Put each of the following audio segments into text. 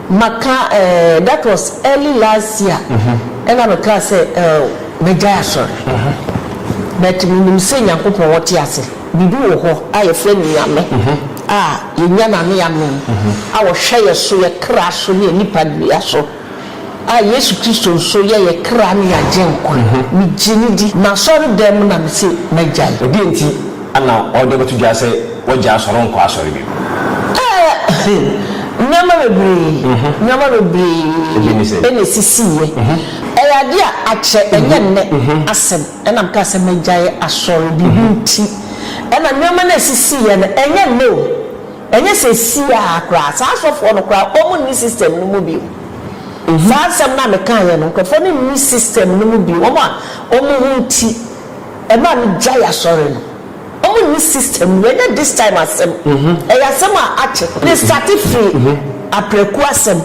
Maka eh that was early last year ɛna me kaa sɛ eh mɛgyae asɔre but me nim sɛ Nyankopɔn ɔte ase biribi wɔ hɔ a yɛfrɛ no Nyame a yɛnya no ano yɛ mee a ɔhwɛ yɛ so yɛ kra so ne yɛ nipa dua so a Yesu Kristo nso yɛ yɛ kra ne yɛ agyenkwa me gye no di m'asɔre dan mu na me se mɛgyae. Ɛdeɛn nti Ana ɔde ɔbɛto dwa sɛ wagya asɔre ɔnkɔ asɔre bio? Ɛɛ, nneɛma bebree, nneɛma bebree na esisiiɛ. Ɛyɛ adeɛ a akyɛ, ɛnyɛ nnɛ asɛm na mekaa sɛ magyae asɔre, biribi nti na nneɛma no a esisiiɛ no, ɛnyɛ nnɛ o, ɛnyɛ seesei ara koraa, saa asɔfoɔ no koraa wɔnni system no mu bio. Saa asɛm no a mekaeɛ no, nkurɔfoɔ no nni system no mu bio, wɔn a wɔn ho nti. Ɛmaa me gyae asɔre no. Ɔmo nni system mu. Ɛnyɛ this time asɛm. Ɛyɛ asɛm a akyɛ. Me starte firi aprɛku asɛm.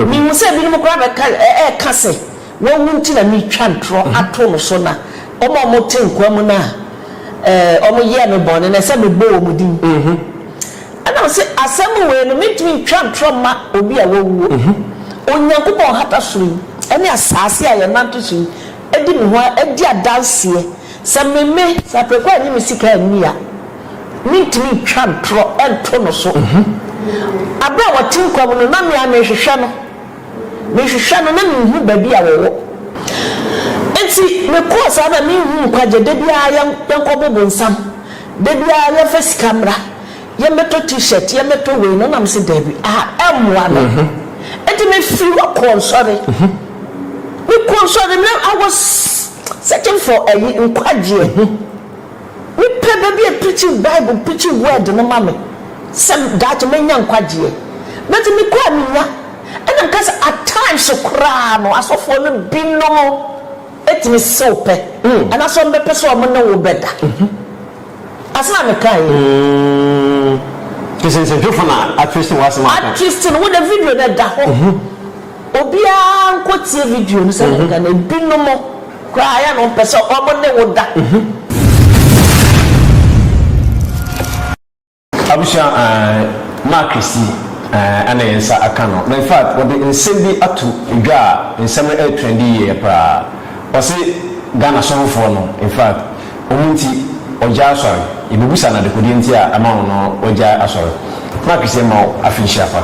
Me hu sɛ ebinom koraa bɛka ɛɛka sɛ wawu nti na me twa ntorɔ ato no so na ɔmo a ɔmo te nkwa mu no a ɔmo yɛɛ me bɔne no ɛsɛ me bɔ ɔmo din. Ɛna me se asɛm wei no me ntumi ntwa ntorɔ mma obi a wawuo. Onyankopɔn hata soro yi ɛne asaase a yɛ nante so yi Adi me ho adi adanseɛ. Sɛ meme, sɛ aprɛko a nnye me sika nni a, mentumi ntwa ntorɔ nto no so. Aberɛ a wɔte nkwa mu no, na me ara merehwehwɛ no. Mehwehwɛ no, na menhu baabi a wɔwɔ. Enti mekɔɔ saa na menhu nkwagyeɛ. Da biara yɛnkɔbo bonsam. Da biara yɛmfa sika mmra. Yɛmmɛtɔ T-shirt, yɛmmɛtɔ wei, na ɔnam sɛ daabi, ah, ɛmmoa no. Enti mefiri hɔ kɔɔ nsɔre. Mekɔɔ nsɔre na I was searching for ayi, nkwagyeɛ. Mepɛ baabi a preachi Bible, preachi word no ma me, sɛ daakye mɛnya nkwagyeɛ. But mekɔ a mennya. Ɛna meka sɛ at times koraa no asɔfoɔ no binom. Etumi si wo pɛ, anaasɛ wɔbɛpɛ sɛ wɔn ne wo bɛda. Asɛm a meka yi. Kyerɛ sɛ nsɛntwerɛfoɔ na atwiste w'asɛm a woka. Atwiste no, wo deɛ video no ɛda hɔ. Obiara nkɔ tie video no sɛdeɛ meka no, ebinom koraa yɛ a na wɔpɛ sɛ wɔn ne wo da. Abusua ahh Mark si ahh na yɛn nsa aka no na infact wɔde nsɛm bi ato dwa a nsɛm no ɛretrendi yieyɛ paa ɔse Ghana sɔhofoɔ no infact ɔmo nti ɔgyaa asɔre yɛbɛbusa no adekodeɛ nti a ɛma no no wagyae asɔre Mark si ɛma wo afe nhyira pa.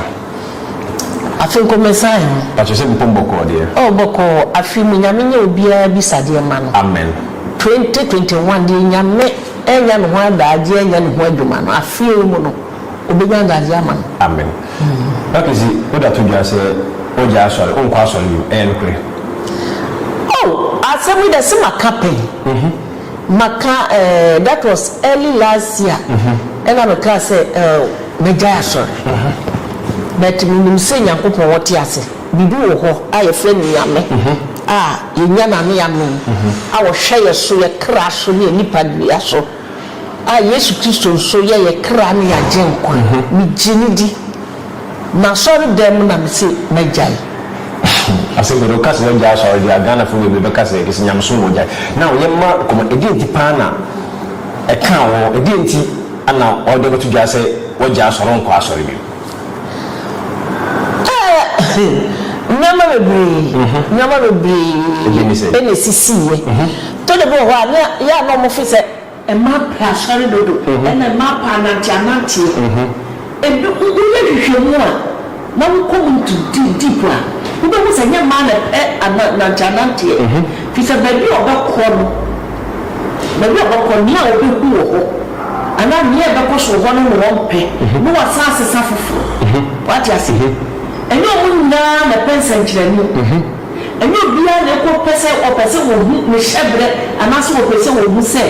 Afe nko mɛsan ho. Pakyɛ sɛ mpom bɔkɔɔ deɛ. Oh bɔkɔɔ afe mu nyame nyɛ obiaa bisadeɛ ma no. Amen. Twenty twenty one deɛ nyame. Ɛrenya ne ho adagyeɛ anya ne ho adwuma no afeɛ yi mu no ɔbɛnya adagyeɛ ama no. Amen Makisi woda to dwa sɛ wagyae asɔre wonkɔ asɔre bio ɛyɛ nokorɛ? Oh asɛm yi dɛ se maka pɛn maka eh that was early last year ɛna mekaa sɛ eh mɛgyae asɔre but menim sɛ Nyankopɔn ɔte ase. Biribi wɔ hɔ a yɛfrɛ no Nyame a yɛnya n'ano yɛanom, a ɔhwɛ yɛ so, yɛ kra so ne yɛ nipadua so, a Yesu Kristo nso yɛ yɛ kra ne yɛ Agyenkwa. Megye no di. M'asɔredɛm mu na mese magyae. Asɛm bɛn? Woka sɛ wagyae asɔre deɛ a, Ghanafoɔ bebree bɛka sɛ ɛde sɛ nyamesom na wagyae. Now yɛmma kɔma, ɛdeɛn nti paa na ɛkaa wo ho? Ɛdeɛn nti na wɔde abɛto dwa sɛ wagyae asɔre, wonkɔ asɔre bio? Nneɛma bebree, nneɛma bebree na esisiiɛ. Tɔ da bi wɔ hɔ a, na yɛ a na wɔfo sɛ mmaa pɛ asɔre dodo, ɛna mmaa pɛ ananteananteɛ. Woyɛ nhwehwɛmu a, na wokɔ mu nto deep a, wobɛhu sɛ nyɛ mmaa na ɛpɛ ananteananteɛ. Firi sɛ baabi a ɔbɛkorɔ no, Baabi a ɔbɛkɔ, nea obehu wɔ hɔ, anaa nea ɛbɛkɔ so wɔ hɔ no na wɔmpɛ, na wɔasan asesa foforo. Woate ase? Ɛnyɛ wɔn nyinaa na ɛpɛ nsɛnkyerɛnne. Ɛnyɛ obiara na ɛkɔ pɛ sɛ ɔpɛ sɛ ohu ne hyɛberɛ anaasɛ ɔpɛ sɛ ohu sɛ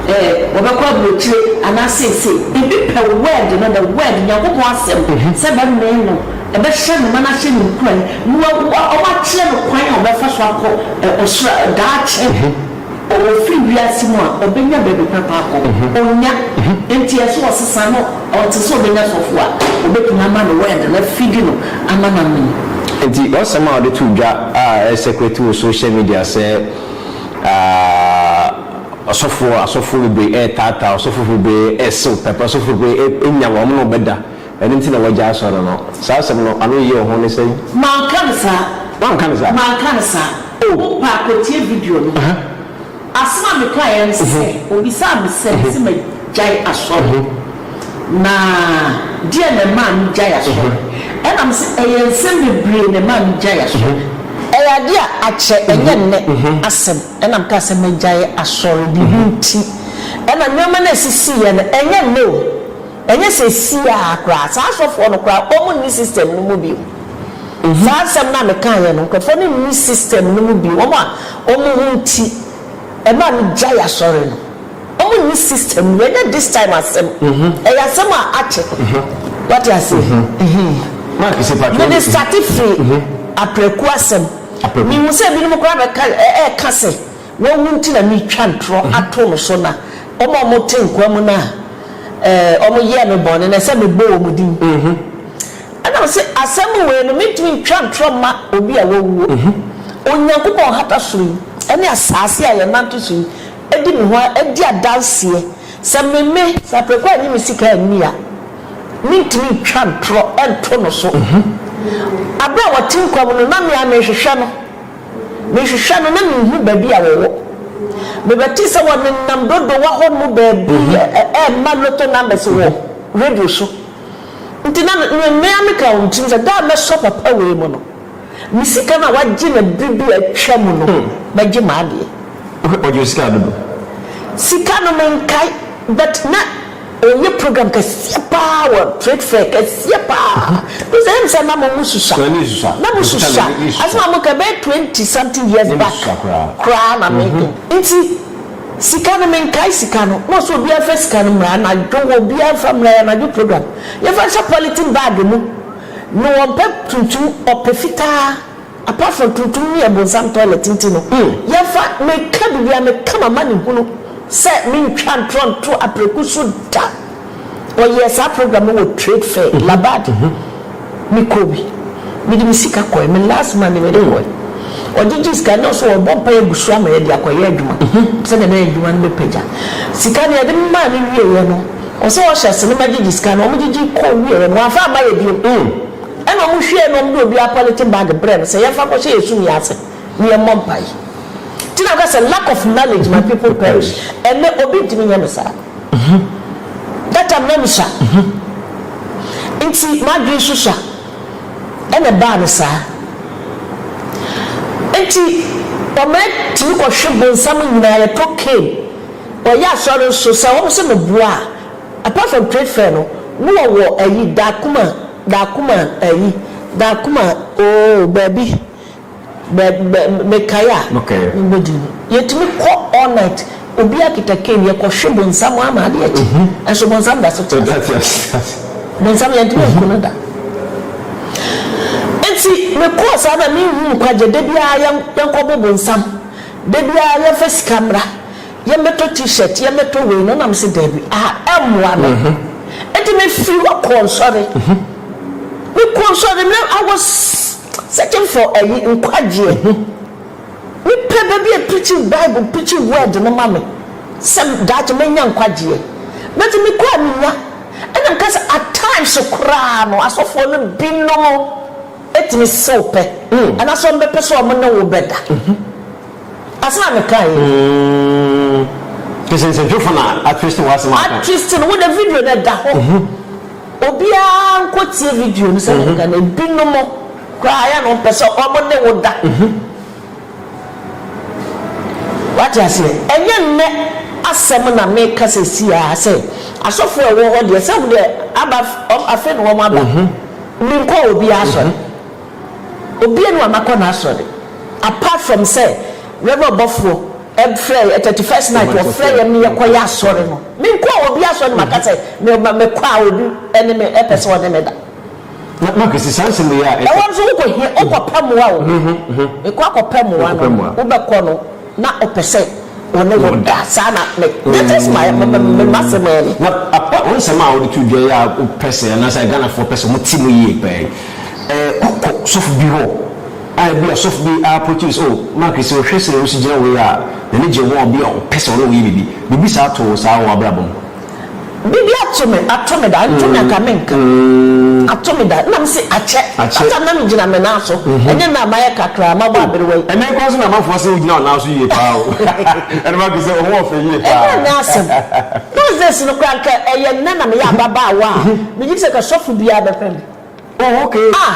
ɛɛ wɔbɛkɔ aburokyire anaa seesei. Ebi pɛ Word no, the Word, Nyankopɔn Asɛm, sɛ ɛbɛmee no Ɛbɛhyɛ no ma n'ase no nkuran na wɔakyerɛ no kwan a ɔbɛfa so akɔ ɔsoro daakye. Ɔfiri wiase mu a, ɔbɛnya baabi papa akɔ. Ɔnnya. Enti yɛ sɛ ɔsesa na ɔte sɛ ɔbɛnya sɔfo a ɔbɛtumi ama no word no afidi no ama no amene. Enti w'asɛm a wode too dwa a ɛresɛkrɛte wɔ social media sɛ ɔsɔfoɔ, asɔfoɔ bebree retaataa, ɔsɔfoɔ bebree resew pɛpɛ, ɔsɔfoɔ bebree renya wɔn, wɔne wo bɛda, Ɛno nti na wɔagya asɔre no. Saa asɛm no, ano yɛ hu ne sɛn? Manka no saa. Woanka no saa? Manka no saa. Oh. Wo mpa kɔtie video no. Aha. Asɛm a mekaeɛ ne sɛ, wɔbisaa me sɛ mese magyae asɔre, na deɛn na ɛmaa megyae asɔre? Ɛna mese, ɛyɛ nsɛm bebree na ɛmaa megyae asɔre. Ɛyɛ adeɛ a akyɛ, ɛnyɛ nnɛ asɛm. Ɛna mekaa sɛ magyae asɔre, biribi nti. Ɛna nneɛma no a ɛsisiiɛ no, ɛnyɛ nnɛ o. Ɛnyɛ seesei ara koraa, saa asɔfoɔ no koraa wɔn nni system no mu bio. Saa nsɛm no a mekaeɛ no, nkurɔfoɔ no nni system no mu bio. Wɔn a wɔn ho nti ɛmaa megyae asɔre no, wɔn nni system no mu. Ɛnyɛ this time asɛm, ɛyɛ asɛm a akyɛ. Wate aseɛ? Ɛhee. Mede starte firii aprɛku asɛm. Mehu sɛ binom koraa bɛka, ɛɛka sɛ. Wɔwu nti na meretwa ntorɔ ato no so, na wɔn a wɔte nkwa mu no a wɔyɛɛ me bɔne no, ɛsɛ sɛ mebɔ wɔn din. Ɛnam sɛ asɛm wei no, mentumi ntwa ntorɔ mma obi a wawuo. Onyankopɔn hata soro yi ne asase a yɛnante so yi di me ho di adanseɛ sɛ memme sɛ aperekɔ annye me sika anni a, mentumi ntwa ntorɔ nto no so. Berɛ a ɔte nkwa mu no, na me ara merehwehwɛ no. Mehwehwɛ no na minhu baabi a wɔwɔ. Mebɛtee sɛ wɔnenam Dodowa hɔ no baabi rema lotto numbers wɔ radio so. Ntsi na mea meka wɔ me tsirmu sɛ, da a mɛsɔ papa wei mu no, me sika no a ɔagye no ber bi a etwa mu no, mɛgye m'adeɛ. Wohwɛ, ɔgye wo sika dodo. Sika no menkae, but na. Ɔyɛ program kɛseɛ paa wɔ trade fair kɛseɛ paa Because ɛyɛ me sɛ na mo mo susua Sua ne susua Na mo susua Ɛfita me susua Asem a mo ka ɛbɛyɛ twenty something years back Na me susua koraa Koraa na me de Nti sika no me nkae sika no Na ɔsɛ obiara mfa sika no mmra anadwo wɔ Obiara mfa mmra yɛ anadwo program Yɛmfa nhyɛ polythene bag mu Na ɔmpɛ tuntum ɔpɛ fitaa Apart from tuntum ne abonsam toilet nti no hmm. Yɛmfa, meka biribiara, meka m'amanehunu sɛ mentwa ntorɔ nto Apreku so da. Wɔyɛɛ saa program no wɔ Trade Fair, Labad. Mekɔɔ bi. Mede me sika kɔeɛ, me last money mede kɔeɛ. Ɔgyegye sika no, na ɔse ɔrebɔ mpaeɛ agu so ama yɛde akɔyɛ adwuma sɛdeɛ na adwuma no bɛpagya. Sika no yɛde maa no wieeɛ no, ɔse ɔhyɛ ase no magyegye sika no, wɔgyegye kɔɔ wieeɛ no, wamfa amma yɛ bio. Ɛna ɔmo hwɛɛ no na ɔmo de obiara pɔleten bag brɛɛ no sɛ yɛnfa nkɔhyɛ yɛn sumii ase na yɛmmɔ mpae. Nti na meka sɛ lack of knowledge my people perish, ɛnɛ obi ntumi nyɛ me saa. That time na misua, nti m'adwene nso sua, ɛna ɛbaa no saa. Nti ɔma yɛtumi kɔhwe bonsam nyinaa, yɛtɔ cane, ɔyɛ asɔre nso, sɛ ɔmo se meboa a, apart from trade fair no, na ɔwɔ ayi, Dakuma, Dakuma ayi Dakuma oo baabi bɛ bɛ mekae a mebɔ din no yɛtumi kɔ all night obiara kita cane yɛkɔ hwe bonsam ama adeɛ akyi nso bonsam da so te ase bonsam yɛntumi anku no da nti mekɔɔ saa na menhuu nkwagye da biara yɛnkɔbo bonsam da biara yɛmfa sika mmra Yɛmmɛtɔ T-shirt, yɛmmɛtɔ wei, na ɔnam sɛ daabi, ah, ɛmmoa me. Enti mefiri hɔ kɔɔ nsɔre. Mekɔɔ nsɔre, na I was searching for ayi, nkwagyeɛ. Mepɛ baabi a preachi Bible, preachi word no ma me, sɛ daakye mɛnya nkwagyeɛ. But mekɔ a mennya. Ɛna meka sɛ at times koraa no, asɔfoɔ no binom tumi se wo pɛ, anaasɛ wɔbɛpɛ sɛ wɔne wo bɛda. Asɛm a meka yi. Umm kyerɛ sɛ nsɛntwerefo na atwiste w'asɛm a woka. Atwiste no, wo de video no ɛda hɔ. Obiara nkɔ tie video no sɛnea meka no. Ebinom koraa ayɛ a na wɔmpɛ sɛ wɔn ne wo da. Wate aseɛ? Ɛnyɛ nnɛ asɛm na meka seesei ara sɛ asɔfoɔ a ɛwɔ hɔ deɛ sɛ wɔn deɛ aba, afei na wɔaba. Menkɔɔ obiara asɔre. Obianu a makɔ n'asɔre apart from sɛ Rev ɔbɔfoɔ frɛɛ yɛ thirty first night wɔfrɛ yɛn ne yɛkɔ yɛ asɔre no menkɔɔ obi asɔre na maka sɛ mekɔ a obi ne me pɛ sɛ ɔne me da. Na Mark si saa nsɛm wei a ɛsɛ. Ɛhɔ nso wokɔ hia wokɔ pɛ mmoa o mekɔ akɔ pɛ mmoa no wobɛkɔ no. Na ɔpɛ sɛ ɔne wo da. Saa na me, me te se ma, me, me, me ma se ma ni. Na papa wo nsɛm a wode to dwa yi a wopɛ sɛ anaasɛ Ghanafoɔ pɛ sɛ wɔte mu yie paa yi, eh, kɔkɔ sɔfo bi hɔ a ebia sɔfo bi a approach wo sɛ, oh, Mark sɛ wohwɛ sɛdeɛ wosi gyina wei a, n'ani gye wo ho a, obi a ɔpɛ sɛ ɔne wo yɛ biribi. Biribi saa too wo saa wɔ w'abrabɔ mu? Bibi ato me ato me da nto me anka me nka ato me da na me se akyɛ kasa na me gyina me nan so ɛnyɛ na mayɛ kakraa ma bɔ aberewa yi. Ɛnɛ kwan so na amanfoɔ se wogyina wo nan so yie paa o ɛna ma gu sɛ ɔho ɔfɛ yie paa. Ɛnyɛ ɛnɛ asɛm those days no koraa nka ɛyɛ nnɛ na meyɛ ababaawa a megye di sɛ nka sɔfo biara bɛpɛ me oh okay ah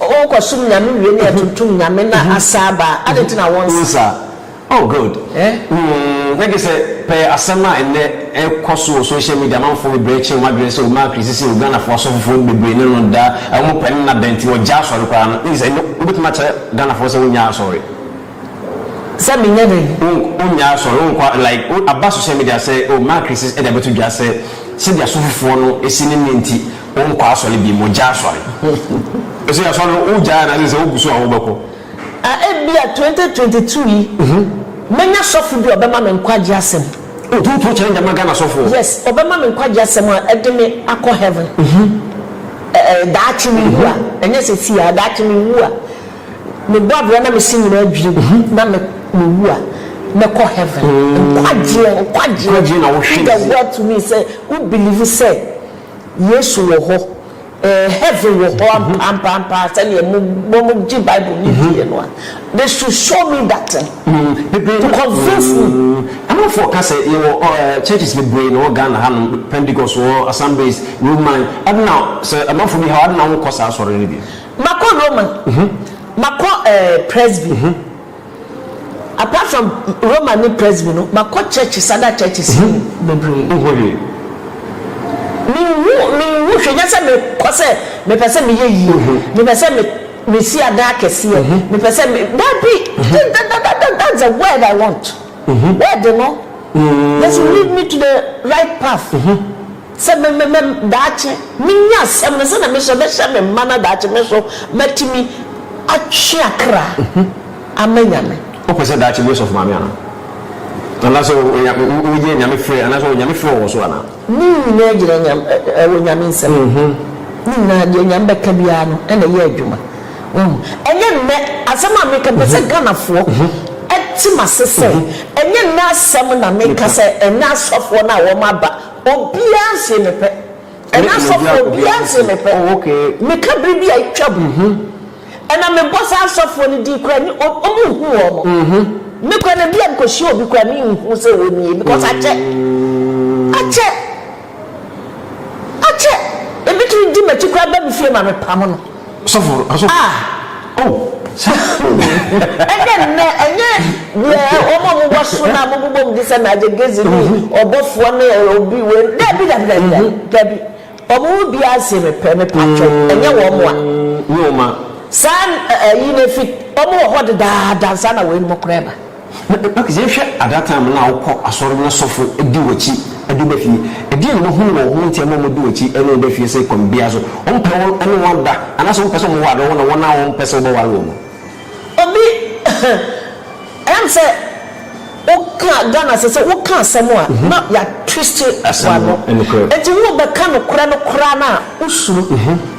Oh kɔsom nyame wie ne atuntum nyame na asa aba a adɛn nti na wonsa. Wonsa oh good mm na gye sɛ pɛ asɛm a nnɛ ɛkɔ so wɔ social media amanfoɔ bebree kye wɔn adwene sɛ omaa kri sisi wɔ Ghanafoɔ asɔfofoɔ bebree ne no da a wɔn pɛ no na adɛn nti wɔgya asɔre koraa no na gye sɛ ɛnnɛ wobɛtumi akyerɛ Ghanafoɔ sɛ wonnya asɔre. Sɛ menyɛ dɛn? Wonnya asɔre wonkɔ like aba social media sɛ oh maa kri sisi ɛde abɛto dwa sɛ sɛdeɛ asɔfofoɔ no si ne nne nti Wo nkɔ asɔre bi mo gya asɔre. Ɛsɛ asɔre no wo gya anaasɛ sɛ wo gu so a wo bɛkɔ. A ebi a twenty twenty two yi mɛnya sɔfo bi a ɔbɛma me nkwagye asɛm. O too too kyɛn dɛma Ghana sɔfoɔ. Yes ɔbɛma me nkwagye asɛm a ɛde me akɔ heaven ɛ ɛ daakye me wu a ɛnyɛ sɛsi a daakye me wu a me bɔ abira na me se nyinaa dwiri gu na me me wu a mɛ kɔ heaven nkwagyeɛ nkwagyeɛ in the world to me sɛ wo believe sɛ. Yesu wɔ hɔ. Ɛɛ, heaven wɔ hɔ ampampaa sɛnea wɔgye Bible no diiɛ no a. They should show me that thing to convince me. Amanfoɔ ka sɛ yɛwɔ churches bebree na ɛwɔ Ghana hanom, Pentecost wɔ hɔ, Assemblies, Roman. Adɛna sɛ amanfoɔ bi ha hɔ a, adɛna wonkɔ saa asɔre no bi? Makɔ Roman, makɔ ɛɛ Presby. Apart from Roma ne Presby no, makɔ churches, other churches yi mu bebree. Wohu hwee? Menhu, menhu hwee, nyɛ sɛ mekɔ sɛ mepɛ sɛ meyɛ yie, mepɛ sɛ me, mesi adan akɛseɛ, mepɛ sɛ me, daabi, that, that, that, that, that, that's the word I want. Word no, just lead me to the right path. Sɛ me, me, me, daakye menya asɛm no sɛnea me nso mɛhyɛ me mma na daakye me nso matumi atwe akra ama Nyame. Wopɛ sɛ daakye bi yɛ sɔfo maame anaa? Anaasɛ woyɛ Nyame frɛ anaasɛ Nyame frɛ wɔ wo so anaa? Ne nyinaa gyina Nyam, ɛ, ɛwɔ Nyame nsam. Ne nyinaa, deɛ Nyame bɛka biara no ɛna ɛyɛ adwuma. Wahu? Ɛnyɛ nnɛ asɛm a meka, mpɛ sɛ Ghanafoɔ te m'ase sɛ, ɛnyɛ nnɛ asɛm na meka sɛ ɛnnɛ asɔfoɔ no a wɔn aba Obiara nse me pɛ. Ɛna asɔfo obiara nse me pɛ. Meka bere bi a atwam. Ɛna mebɔ saa asɔfoɔ no din koraa ni ɔmo nhu wɔn. Me koraa no bia mekɔhyia obi koraa me nhu sɛ wɔ nie because akyɛ. Akyɛ. Akyɛ. Ebetumi di m'akyi koraa ba me fie ma me pam no. sɔfo asɔfo. ah oh saa ɛnɛ nnɛ ɛnyɛ deɛ wɔn a wɔn wɔ so na wɔn bobɔ mu de sɛ na agye gezi ne ɔbɔfoɔ ne obi wei dabi dabi dabi dabi dabi wɔn mu bi ase mepɛ mepa twɛ ɛnyɛ wɔn a nyɛ wɔn a saa ɛyi na efi wɔn wɔ hɔ dedaada nsa na wɔn anim kora ɛba. Mak, yɛn hwɛ at that time na wokɔ asɔre na sɔfo di wakyi de woba fie ɛdeɛn na wahunu wɔ ho nti ɛma wɔde wakyi ne woba fie sɛ kwan biaa so wɔn pɛ wo ne wɔn ada anaasɛ wɔn pɛ sɛ wɔn ware wo na wɔn a wɔn pɛ sɛ wobɛ ware wɔn no Obi ɛyam sɛ wo ka Ghana sɛ sɛ wo ka asɛm a na ya twist wano ɛnti wo bɛ ka nokorɛ no koraa no a wo suro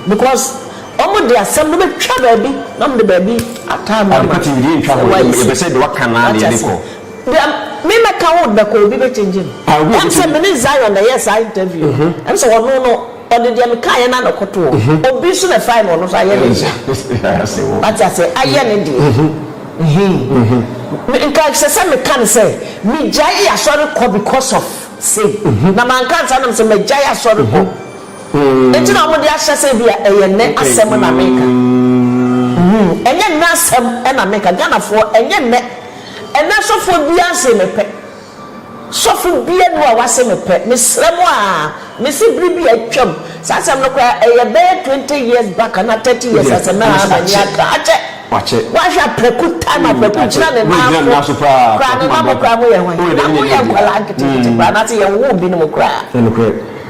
because. Wɔde asɛm no bɛtwa baabi na wɔde baabi ataa no ama. Sɛ woayi so. Wate ase? Deɛ me mɛka wo bɛkɔ obi bɛkyɛngye no. Ɛm sɛ me ne Zion na ɛyɛɛ saa interview no, ɛm sɛ ɔno no, ɔde deɛ mekaeɛ no ara na ɛkɔtoo hɔ. Obi nso na ɛfaeɛ na ɔno nso ayɛ ne deɛ. Wate ase? Ayɛ ne deɛ. Ehe. Me, nka ɛsɛ sɛ meka no sɛ, megyaee asɔre kɔ because of sei. Na manka ansa na mesɛ magyae asɔre kɔ. Enti na wɔde ahyɛ sɛ ebia ɛyɛ nnɛ asɛm na meka. Humm, ɛnyɛ nnɛ asɛm na meka. Ghanafoɔ, ɛnyɛ nnɛ. Ɛnnɛ sɔfoɔ biara nsee me pɛ. Sɔfo biara nni hɔ a wase me pɛ. Mesrɛ mo a, mese bere bi a atwam, saa asɛm no koraa ɛyɛ bɛyɛ twenty years back anaa thirty years asɛm na haa m'ani aka. Akyɛ! Woahwɛ a prɛko taa na prɛko gyina ne nan so koraa, ne nan mo koraa moyɛ hwan? Na moyɛ nkwadaa nketenkete koraa, anaasɛ yɛnwoo binom koraa.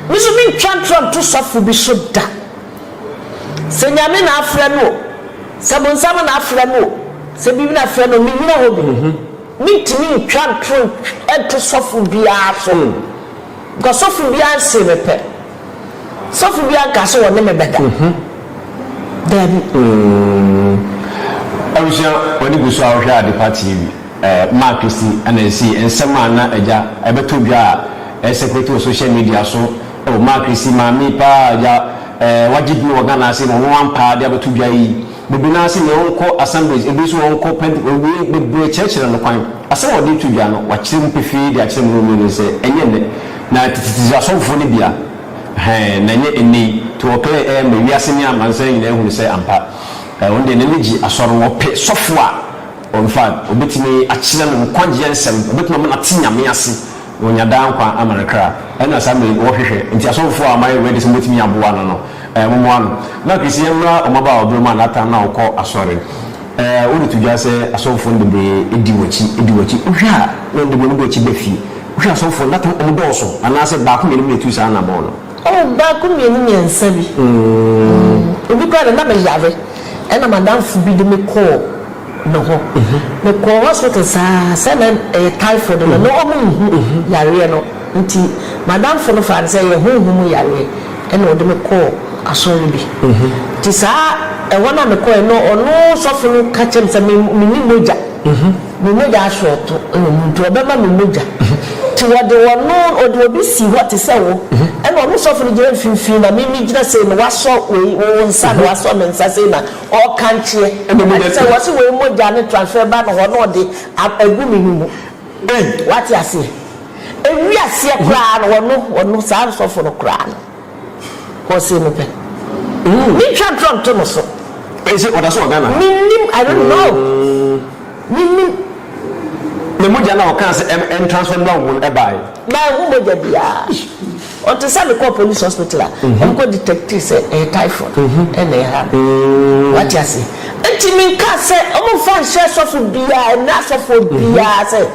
Me nso mentwa ntorɔ nto sɔfo bi so da. Sɛ Nyame na afrɛ no o, sɛ bonsam na afrɛ no o, sɛ biribi na afrɛ no o, mennyina hɔ bi. Mentumi ntwa ntorɔ nto sɔfo biara so, because sɔfo biara nsee me pɛ. Sɔfo biara nkaa sɛ ɔne me bɛda. Daabi. Abusua, w'ani gu so a wohwɛ Adepa TV? Mark si na esi nsɛm a na agya ɛbɛtɔ dwa a ɛsɛkuleti wɔ sohyia midia so. Oh Mark si maame paa agya eh wagye din wɔ Ghana ase ma ɔno ampaa de abɛto dwa yi. Baabi no ara sɛnea ɔnkɔ assemblies ebi nso ɔnkɔ pɛnt ɔwie bebree kyerɛkyerɛ no kwan. Asɛm a ɔde reto dwa no wakyerɛ mu pefee de akyerɛ me ne wo mmienu sɛ ɛnyɛ nnɛ na tetetete asɔfofo no bia eh na ɛnyɛ nnɛ yi to ɔclear eh ma wiase ne amansan nyinaa hunu sɛ ampa eh ɔno deɛ n'ani gye asɔre no ɔpɛ sɔfo a Ɔmfa no, obetumi akyerɛ no nkwagyeɛ nsɛm, obetumi ama no ate Nyame ase, na wanya daa nkwa ama ne kra. Ɛna saa mmerɛ yi wɔhwehwɛ, nti asɔfofoɔ a moayɛ ready sɛ mobetumi aboa no no, eh, momoa no. Na Chris, yɛmmra ɔmabaa ɔberɛ mu a n'atan na ɔkɔ asɔre. Eh, wode to dwa sɛ asɔfofoɔ no bebree di w'akyi, di w'akyi. Wohwɛ a, na wɔde wɔn ani bɔ akyi ba fie. Wohwɛ asɔfofoɔ no, that time wɔdɔɔso, anaasɛ baako mmienu bi na etu saa anabɔn no. Oh baako mmienu mmiɛnsa bi ebi koraa deɛ na me yare ɛna madamfo bi de me kɔɔ ne hɔ me kɔɔ hospital saa sɛ na ɛyɛ typhoid no na ɔmo nhu yareɛ no nti madamfo no faa no sɛ ɛyɛ honhom mu yareɛ ɛna ɔde me kɔɔ asɔre bi nti saa ɛhɔ no a me kɔɛ no ɔno sɔfo no ka kyerɛ me sɛ me me nni mogya. Me mogya asorɔto na mu nti wɔbɛma me mogya nti wɔde ɔno ɔde obi sii hɔ te sɛ wo ɛna ɔno sɔfo no gyina mfimfini na me megyina sei na wasɔ wei wo nsa na wasɔ me nsa sei na ɔrekankyeɛ ɛte sɛ wɔse wei mogya ne transfer ba no hɔ na ɔde agu me no mu wate aseɛ ɛwiaseɛ koraa no ɔno ɔno saa sɔfo no koraa no. Ɔsee mepɛ. Me twa drum to no so. Ɛyɛ sɛ ɔda so wɔ Ghana ha. Me nim I don't know. Me nim. Na mogya na ɔkaa sɛ ɛm ɛn transfer no ahu no ɛbaa yɛ. Manhu mogya biaa. Ɔnte sɛ me kɔɔ police hospital a ɔmo kɔ detectee sɛ ɛyɛ typhoid ɛna ɛha me. Wate aseɛ. Nti me nkaa sɛ ɔmo nfa nhyɛ sɔfo biaa ɛnɛ asɔfoɔ biaa sɛ.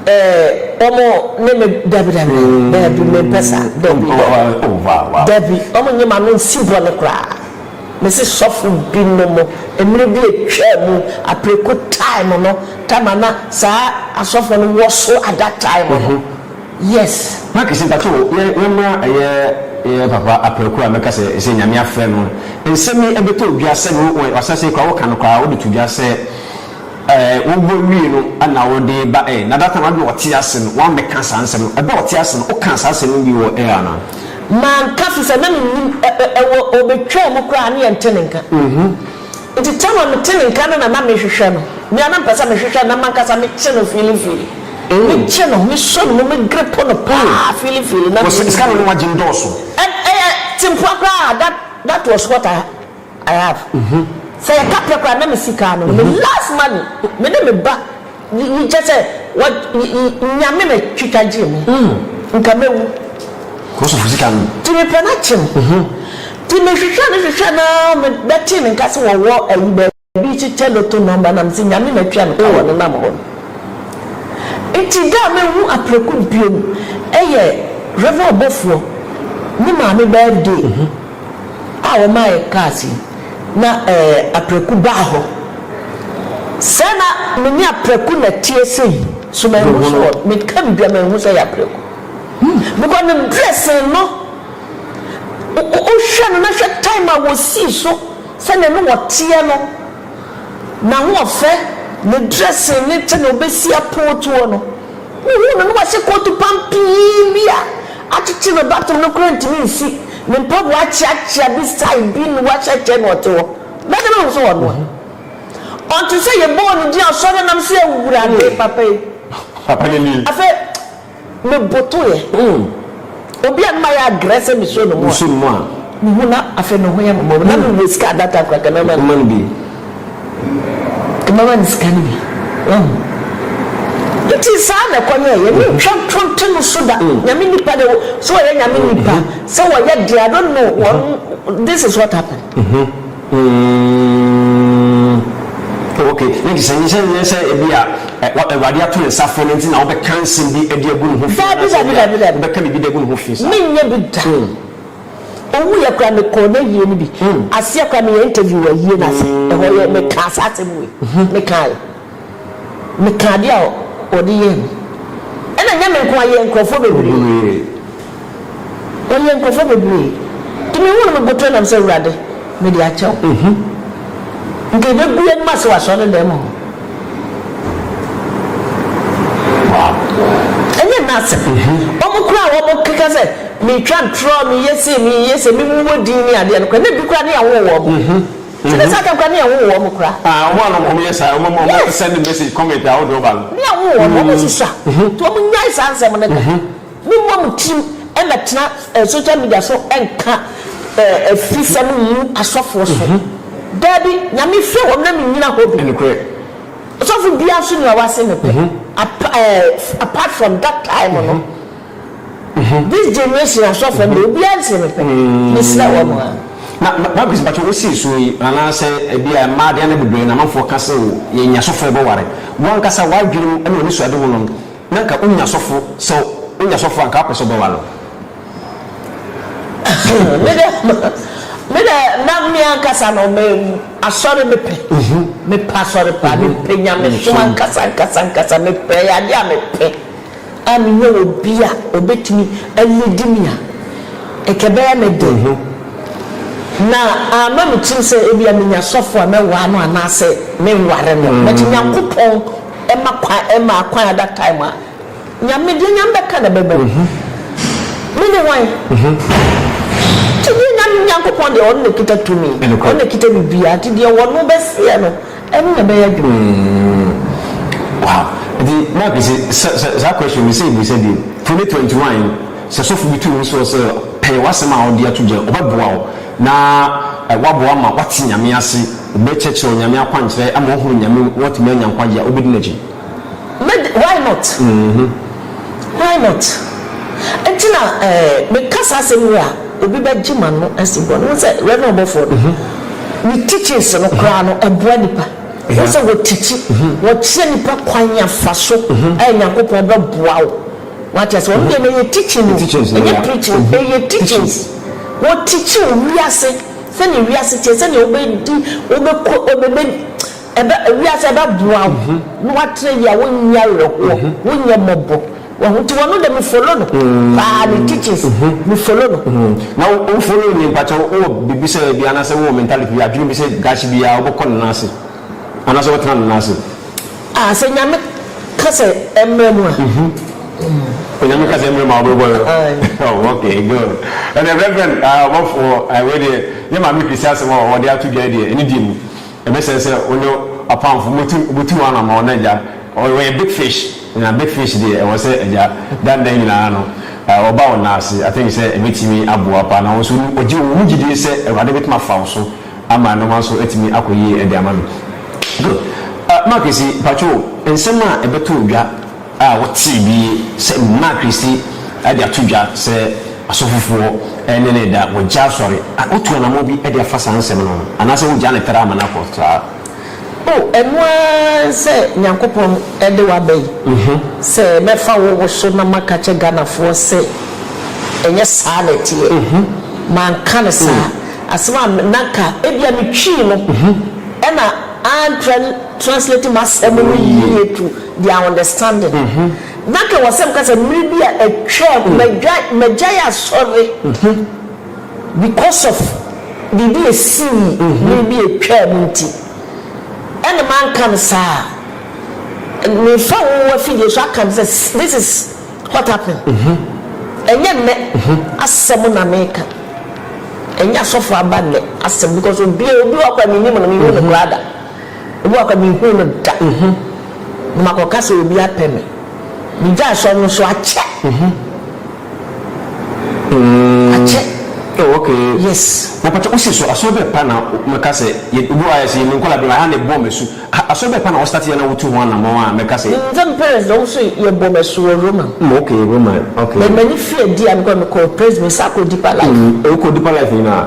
Eh ɔmo ne me dabi dabi dabi me mpɛ saa dabi dabi dabi ɔmo nye m'ano nsi bɔne koraa me se sɔfo bi no mo mmere bi atwaa mu apreku time no tama na saa asɔfo no wɔ so at that time no yes. Makisi mpakyɛw yɛ yɛmra ɛyɛ yɛ papa apreku a mɛka sɛ sɛ nyame afrɛ no nsɛm yi ɛbɛtɔ dwa sɛde wo wɔ asase kora wo ka no koraa wode to dwa sɛ. Ɛɛ, wobɔ wie no na wode reba ɛ? Na data no ade na ɔte ase no, woammɛka saa nsɛm no. Ɛberɛ a ɔte ase no, wokaa saa asɛm no bi wɔ ɛ anaa? Manka, ɛfiri sɛ na mennim ɛ, ɛ, ɛ, wɔ, ɔbɛtwaa mu koraa a ne yɛnte ne nka. Nti tam a mete ne nka no na na mehwehwɛ no. Me ara na mepɛ sɛ mehwehwɛ no na m'ankasa mekye no fiilifiili. Mekye no, mesɔ ne mu, megrepo no paa fiilifiili na menni. Wɔ sɛ, sika no na woagye nnɔɔso. Ɛ, ɛyɛ tempoa koraa a, that, that was what I. I have sɛ yɛ ka pɛ koraa na me sika ano no me last money me ne me ba yi kyɛ sɛ wɔ nyame na twitwa gyee me nka mɛ wu ti me pɛ na kye no ti me hwehwɛ no hwehwɛ na me bɛ tee ne nka sɛ wɔ wɔ ayi bɛ bi kyekyɛ loto number na me sɛ nyame na twia no ka wɔ ne nam hɔ no nti da a me hu apreku bio no ɛyɛ reverend ɔbɔfoɔ ne maame birthday. a wɔmaa yɛn kaas yi, na ɛɛ, apraku baa hɔ. Sɛ na me ne apraku na ɛteɛ sei, so manhu so wɔ, meka biribi a manhu sɛ ɛyɛ apraku. Because ne dressing no, wo, wohwɛ no na hwɛ time a wɔsii so, sɛdeɛ ne wɔteɛ no, n'ahoɔfɛ, ne dressing ne sɛdeɛ ɔbɛsi apootuo no. Mihuu no na wahyɛ kootu pam pii bi a akyekye no batom no koraa ntumi nsi ne mpaboa akyeakyea bi style bi na wahyɛ kyɛ na ɔte hɔ. Bɛde bɛhu sɛ ɔno a ɔnte sɛ yɛbɔɔ no din asɔre nam sɛ Awurade papa yi. Papa no nie. Afei mebotoeɛ. Obi a na mayɛ agrɛ sɛ mesuro no mmoa. Mesuro mmoa. Me ho na afei me ho yɛ me mmɔbɔ. Na mewɔ sika a that time koraa nka mɛma no. Mɛma no bi. Nka mɛma no sika no bi. Wahu? Nti saa na ɛkɔ nyɛ. Yɛne ntwa nto nte no so da. Nyame nipa deɛ, sɛ ɔyɛ Nyame nipa, sɛ ɔyɛ deɛ, I don't know, wɔn, this is what happened. Umm ok ne de sɛ nyɛ sɛ nyɛ sɛ ebi a awurade ato ne nsa afrɛ no nti na wobɛka nsɛm bi de agu ne ho fi anaa sɛ ebi a wobɛka biribi de agu ne ho fi saa. Dabi dabi dabi menyɛ bi da umm owu yɛ koraa me kɔɔ n'ayie no bi umm aseɛ koraa me yɛ interview wɔ ayie no ase ɛhɔ yɛ me kaa saa asɛm wei me kaa yɛ. Mekaa adeɛ a wɔde yɛɛ me. Ɛna nyɛ me nko ara, yɛɛ nkurɔfoɔ bebree. Wɔyɛɛ nkurɔfoɔ bebree. Nti mehuu no, mebotoo nam sɛ, Awurade, mede akyɛ wo. Nka yɛbɛgu yɛn anim ase wɔ asɔredan mu hɔ. Ɛnyɛ nna asɛm. Wɔn koraa a wɔkeka sɛ metwa ntorɔ, meyɛ sei, meyɛ sei, memumu din ne adeɛ no koraa, na ebi koraa ne yɛnwoo wɔn. Ti ne saa kɛmkra ne yɛn nwo wɔn kura. Ah wɔn a wɔn yɛ saa wɔn a wɔn send message comment ahodoɔ ba no. Ne yɛn nwo wɔn wɔn susua nti wɔn nyae saa nsɛm no da. Me mmɔ mo tirim mmɛ tena eh social media so nka eh afisɛm ngu asɔfoɔ so daabi nyame hwɛ wɔn na me nyina hɔ bi. Nokorɛ. Ɔsɔfo biara nso nni hɔ a wase ne pɛ apa eh apart from that time no. This generation asɔfo no deɛ obiara nte ne pɛ. Mesrɛ wɔn a. Na Margaret mpakyɛ wo sii soɔ yi anaasɛ ɛbi a mmaa deɛ na bebree na amanfoɔ ka sɛ o yɛnya asɔfoɔ bɛ ware wo ankasa w'adwene mu ɛna w'anisuade ho no na nka wonya asɔfo sɛ wonya asɔfo a nka wopɛ sɛ wobɛ ware wo. Me deɛ me deɛ na me ankasa no me asɔre me pɛ me pɛ asɔre paa me pɛ nyamesom ankasa ankasa ankasa me pɛ ɛyɛ adeɛ a me pɛ. a minnya obi a obetumi alidi me a, anka ɛbɛyɛ me den. Na amma me tirim sɛ ebia menya sɔfo a mɛwaa no anaasɛ menware no. But Nyankopɔn ma kwan, ɛmaa kwan at that time a, Nyame, deɛ Nyame bɛka na ɛbɛba mu. Me ne hwan? Nti deɛ Nyame, Nyankopɔn deɛ, Ɔno na ɛkita tumi, Ɔno na ɛkita biribiara, nti deɛ Ɔno bɛseɛ no, Ɛno na ɛbɛyɛ dwen. Umm wow nti Mike se sɛ sɛ saa question me sɛ bisa bio for me twenty one yi sɛ sɔfo bi tu wo soɔ sɛ pɛɛ wasɛm a ɔde ato dwa ɔbɛ boa wo na waboa ma wate nyame ase ɔbɛ kyerɛkyerɛ wo nyame akwankyerɛ ama wahunu nyame na watumi anya nkwagye a wobɛ di nakyi. Mɛd why not? Why not? Nti na eh, meka saa asɛm yi a, obi bɛgye m'ano asi bɔne. Wohu sɛ Rev. Ɔbɔfoɔ no, ne teachings no koraa no, ɛboa nnipa. Wohu sɛ wɔtikyi, wɔkyerɛ nnipa kwan a fa so a Nyankopɔn bɛboa wo. Wate aseɛ? Ɔno deɛ no ɛyɛ teaching o, ɛnyɛ preaching, ɛyɛ teachings. Wɔtikyi wo wiase, sɛdeɛ wiase teɛ, sɛdeɛ wobɛdi, wobɛkɔ, wobɛbɛ. Ɛbɛ, wiase ɛbɛboa wo na woatra yie a wonnya awerɛhoɔ, wonnya mmɔbɔ. Wahu? Nti wɔno deɛ me follow no paa, ne teachings, me follow no. Na wo wo follow nie mpakyɛw wo wɔ biribi sɛ ebi anaasɛ wo wɔ mentality bi adwene bi sɛ daakye biara wo bɛkɔ ne nan ase anaasɛ wo bɛtena ne nan ase? Ah sɛ Nyame ka sɛ ɛmmerɛ mu a. Sɛ Nyame ka sɛ ɛmmerɛ mu a wo bɛbɔ no? Aye. Oh okay good. Ɛnneɛ Reverend ah ɔbɔfoɔ ah wei deɛ yɛ Maame Christie asɛm a ɔde ato dwa yi deɛ ɛno di mu. Ɛbɛsɛ sɛ wo ne w'apamfo motu motu w'anammɔn na agya ɔ ɔyɛ big fish na big fish deɛ ɛwɔ sɛ agya da nna nyinaa no ɛ ɔba wo nan ase. I think sɛ ɛbɛtumi aboa paa na wo nso wo gye wo ho gyidie sɛ Awurade bɛtumi afa wo so ama nnoɔma nso atumi akɔ yie de ama no. Good. Ɛ Mark si mpakyɛw nsɛm a ɛbɛtɔ dwa. a wɔtee bi sɛ Nana Christie de ato dwa sɛ asɔfofoɔ ne no reda, wɔagya asɔre, a wɔtu anammɔn bi de afa saa nsɛm no ho, anaasɛ wɔgyaa no tra ama no akɔ saa. O, ɛno ara sɛ Nyankopɔn de wo aba yi, sɛ mɛfa wo wo so na maka akyerɛ Ghanafoɔ sɛ ɛnyɛ saa na ɛteɛ, manka no saa, asɛm a na anka ebia metwii no na antra. translate m'asɛm no yie to their understanding na kɛ wɔ sɛ meka sɛ mmere bi a atwam magyae asɔre because of biribi a ɛsii mmere bi a atwam nti ɛna manka no saa a mefa wo afidie so aka no sɛ this is what happened ɛnyɛ nnɛ asɛm na meka ɛnyɛ asɔfo aba nnɛ asɛm because obi obi wɔ kora menim no mehu no koraa da Ebi wɔ hɔ a minhuu no da, na makɔka sɛ obi apɛ me. Migyae sɔre no so akyɛ. Akyɛ. Oh, okay. Yes. Na pata wosi so asɔre bɛn pa na mɛka sɛ yɛ obi wɔ hɔ a yɛsi yɛ ne nkɔla bi ma ɛha na ɛbɔɔ m'asu. Asɔre bɛn pa na wɔstarte yɛ na wotu ho anamɔn a mɛka sɛ. Menim me parents deɛ wɔn nso yɛbɔɔ m'asu wɔ Roma. Mm, okay, Roma, okay. But m'ani fii adi a mekɔ no mekɔɔ Presby, mesan kɔɔ Deeper Life. Mm, wokɔɔ Deeper Life nyinaa?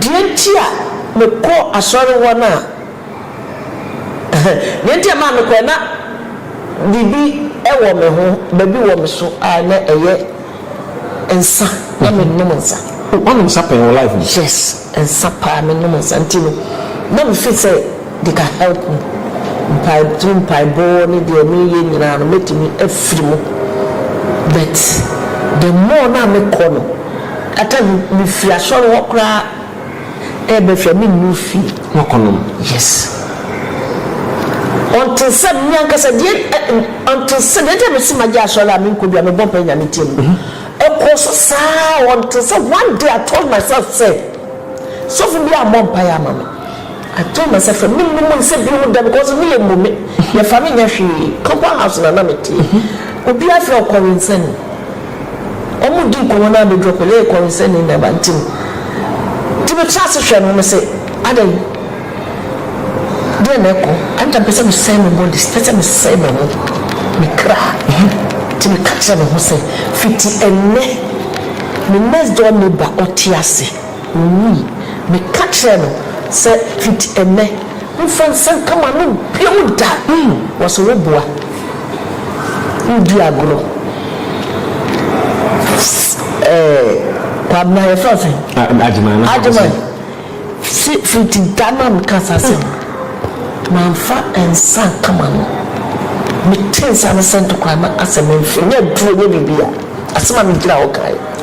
Deɛ nti a mekɔ asɔre hɔ no a, deɛ nti a ɛmaa mekɔɛ, na biribi wɔ me ho, baabi wɔ me so a na ɛyɛ nsa, na mennom nsa. Woanom nsa pɛn wɔ life mu? Yes, nsa paa, mennom nsa nti no na me feel sɛ. Deka help me mpae through mpaebɔ ne deɛ meyɛ nyinaa no mɛtumi afiri mu but the more no a mekɔ no at times mefiri asɔre hɔ koraa ɛɛba fie a mennuru fie. Nɔkɔnom yes until sɛ me ankasa deɛ until sɛ deɛ nti a mese magye asɔre a menkɔ bio a mebɔ mpae Nyame tie no ɛkɔɔ so saa until sɛ one day I told myself sɛ sɔfo biara mmɔ mpae ama me. I told myself sɛ me num nsa bio da because me yɛ mmome yɛ fa me nyɛ hwee copper house na na me tie obi afrɛ ɔkɔrensani ɔmo di nkɔmɔ na abɛduru ɔkɔ yɛ kɔrensani na ɛba nti no nti me tra ase hwɛ no me se adɛn deɛ na ɛkɔ anta mpɛ sɛ me sɛe me body pɛ sɛ me sɛe me ho me kra nti me ka kyerɛ me ho sɛ fiti ɛnɛ me next door neighbor ɔte ase. Owui. Meka kyerɛɛ no sɛ fiti ɛnnɛ, mfa nsɛnka m'anom bio da. Mm, wɔse woboa, wodi agorɔ. Ɛɛ, Kwabena, yɛfrɛ wo sɛn? Agyeman. Agyeman, se fiti da no a mekaa saa asɛm no, mamfa nsa anka m'ano. Metee nsa no sɛnte koraa na asɛ memfe, nyɛ aduro, nyɛ biribiara. Asɛm a megyina hɔ kaeɛ.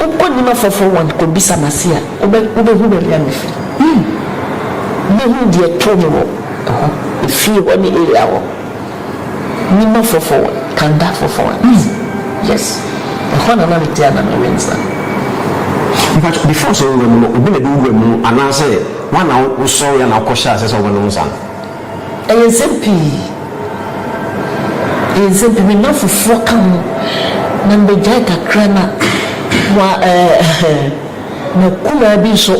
Wokɔnim afoforo wɔn kɔbisa m'ase a, wobɛhu baabi a mefi. Yiw, wobɛhu deɛ ɛtoo me wɔ hɔ, efie hɔ ne area hɔ. Nim afoforo wɔn, Kanda afoforo wɔn, Easy, yes, ɛhɔ na na mete a na me rent na. Mpakyɛw, before sɛ wo wura mu no, obi na ɛde wo wura mu anaasɛ wo a na wo sɔre a na wo kɔ hyɛ aseɛ sɛ wo bɛ nom nsa no? Ɛyɛ nsɛm pii, ɛyɛ nsɛm pii, me nnamfofoɔ ka ho, na mebɛgyae kakra na wa ɛɛ M'akumaa bi nso,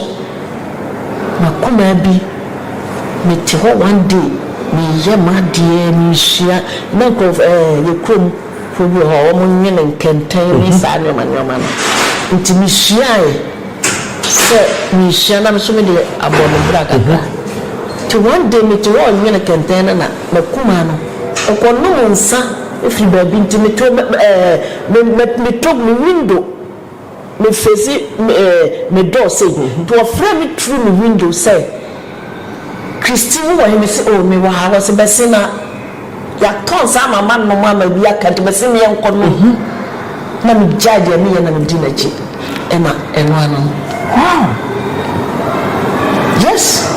m'akumaa bi, mete hɔ one day, meyɛ m'adeɛ, meresua, na nkorɔf ɛɛ yɛ kurom foɔ bi wɔ hɔ a, wɔnwene nkɛntɛn ne saa nnoɔma nnoɔma no, nti mesuaeɛ. sɛ merehyia na me nso mede abɔ no bra kakra. Nti one day mete hɔ renwene kɛntɛn no na m'akumaa no ɔkɔnom nsa firi baabi nti meto ɛɛ meto me window me face ɛɛ me door sei nti ɔfrɛɛ me through me window sɛ, Christy hu wɔn, mese oh me wɔ ha, wɔse bɛse na yɛatɔ nsa ama manom ama bi aka nti mese me yɛnkɔ nom na me gyae deɛ me yɛ na me di n'akyi ɛna ɛno ano no wow yes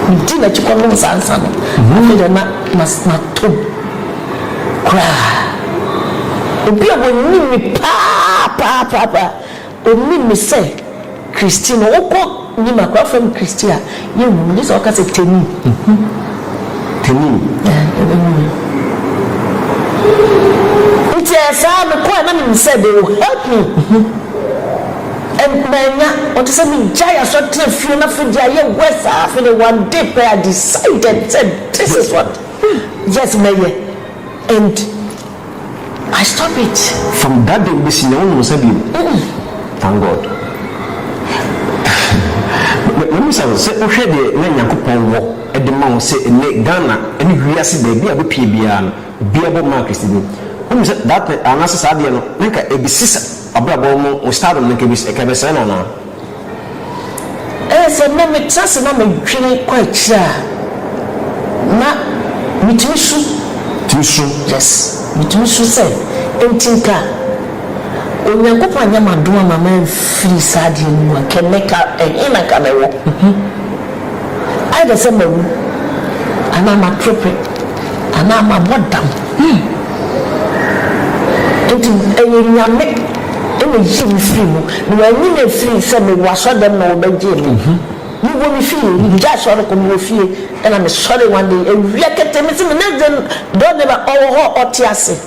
me di n'akyi kɔ nom saa nsa no mhm. afei deɛ na matom koraa obi a wɔnim me paa paa paa paa Onim me sɛ Christy no wokɔ nim a koraa frɛm Christy a yɛnhu me gye sɛ ɔka sɛ Teni hmm Teni yeah yɛbɛhu me nti ɛyɛ saa mekɔɛ na menim sɛ they will help me hmm and manya ɔte sɛ megyae asɔre tena fie na afei de ayɛ wɛ saa afei de one day pɛ I decided sɛ this is what yes mɛyɛ and I stop it from that day besi nɛ wonom nsa biom mm thank God mabisa wo sɛ wohwɛ deɛ na Nyankopɔn wɔ de ma wo sɛ ɛnɛ Ghana ne wiase baabi a wobɛpie biara no obiara bɔ maa Christini wonim sɛ that anaasɛ saa adeɛ no na nka ɛbesi sɛ abrabɔ mu wo stardom no nka ɛbɛsɛe no anaa Ɛyɛ sɛ na mete ase na medwene kɔ akyiri a, na mitumi su. Tumi su? Yes, mitumi su sɛ, Enti nka Onyankopɔn anyɛ m'adom amma mamfiri saa adeɛ no mu anka ɛnnɛ nka ɛhe na anka mewɔ? Ayɛ dɛ sɛ mawu anaa maperepe anaa mabɔ dam. Yii! Enti ɛyɛ Nyame na oyii me firii mu. Na wɔanyi me amfiri sɛ mewɔ asɔrdan mu na wɔbɛgyee me. Mewɔ me fie. Megyae asɔre kɔ, mewɔ fie. Ɛna mesɔree one day, awia ketee, mese me next door neighbor ɔwɔ hɔ a ɔte ase.